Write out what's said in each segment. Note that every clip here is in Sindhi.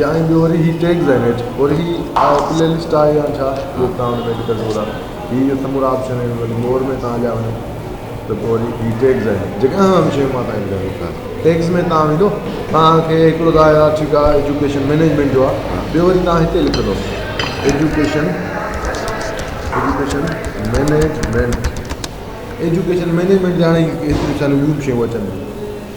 يا ۽ ٻيو وري هي ٽيگز آهن هيٺ اور هي پلي لسٽ آهي يا ڇا جو بي توهان هن ۾ ڏيکي سگهو ٿا هي جو سمورا آپشن آهن انهن مور ۾ توهان هليا وڃو ته پوء وري هي ٽيگز آهن جيڪي اهم شيون مان توهان کي ٻڌايو ٿا ٽيگز ۾ توهان ويندو توهان کي هڪڙو ته آهي ٺيڪ آهي ايجوڪيشن مينيجمينٽ جو آهي ٻيو وري توهان هتي لکندو education education management education management جي هاڻي شيون اچن ٿيون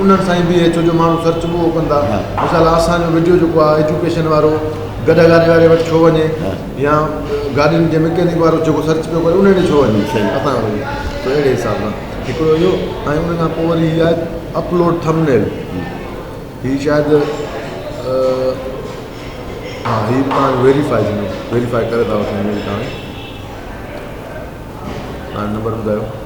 انهن سان ئي بيهي ڇو جو ماڻهو سرچ به اهو ڪندا مثال اسان جو وڊيو جيڪو آهي ايجوڪيشن وارو گڏهه گاڏي واري وٽ ڇو وڃي يا گاڏين جي مڪينڪ وارو جيڪو سرچ پيو ڪري ان ڏي ڇو وڃي اسان وڃي سو اهڙي حساب سان هڪڙو اهو ۽ ان کان پوء وري هي آهي اپلوڊ ٿمنيل هي شايد ها هي به تان ويريفائي ٿيندو ويريفائي ڪري ٿا وٺن هي به تان ها نمبر ٻڌايو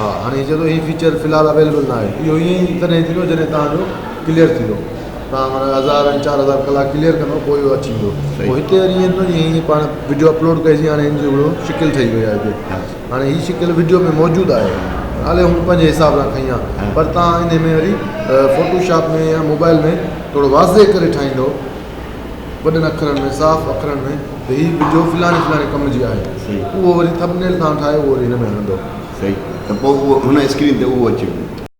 ها هاڻي جيئن هي فيچر في الحال اويليبل نه آهي اهو ائين ئي تڏهن ٿيندو جڏهن توهان جو ڪليئر ٿيندو توهان معنيٰ هزار ۽ چار هزار ڪلاڪ ڪليئر ڪندو پوء اهو اچي ويندو صحيح هتي وري ائين ٿيندو جيئن هي پاڻ وڊيو اپلوڊ ڪئي سي هاڻي هن جو هڪڙو شڪل ٺهي وئي آهي هتي هاڻي هي شڪل وڊيو ۾ موجود آهي نالي هن پنهنجي حساب سان کئي آهي پر توهان ان ۾ وري فوٽو شاپ ۾ يا موبائل ۾ ٿورو واضح ڪري ٺاهيندو وڏن اکرن ۾ صاف اکرن ۾ ته هي وڊيو فلاڻي فلاڻي ڪم جي آهي اهو وري ٿمبنيل توهان ٺاهيو اهو وري هن ۾ هڻندو صحيح ته پوء اهو هن اسڪرين تي اهو اچي ويندو.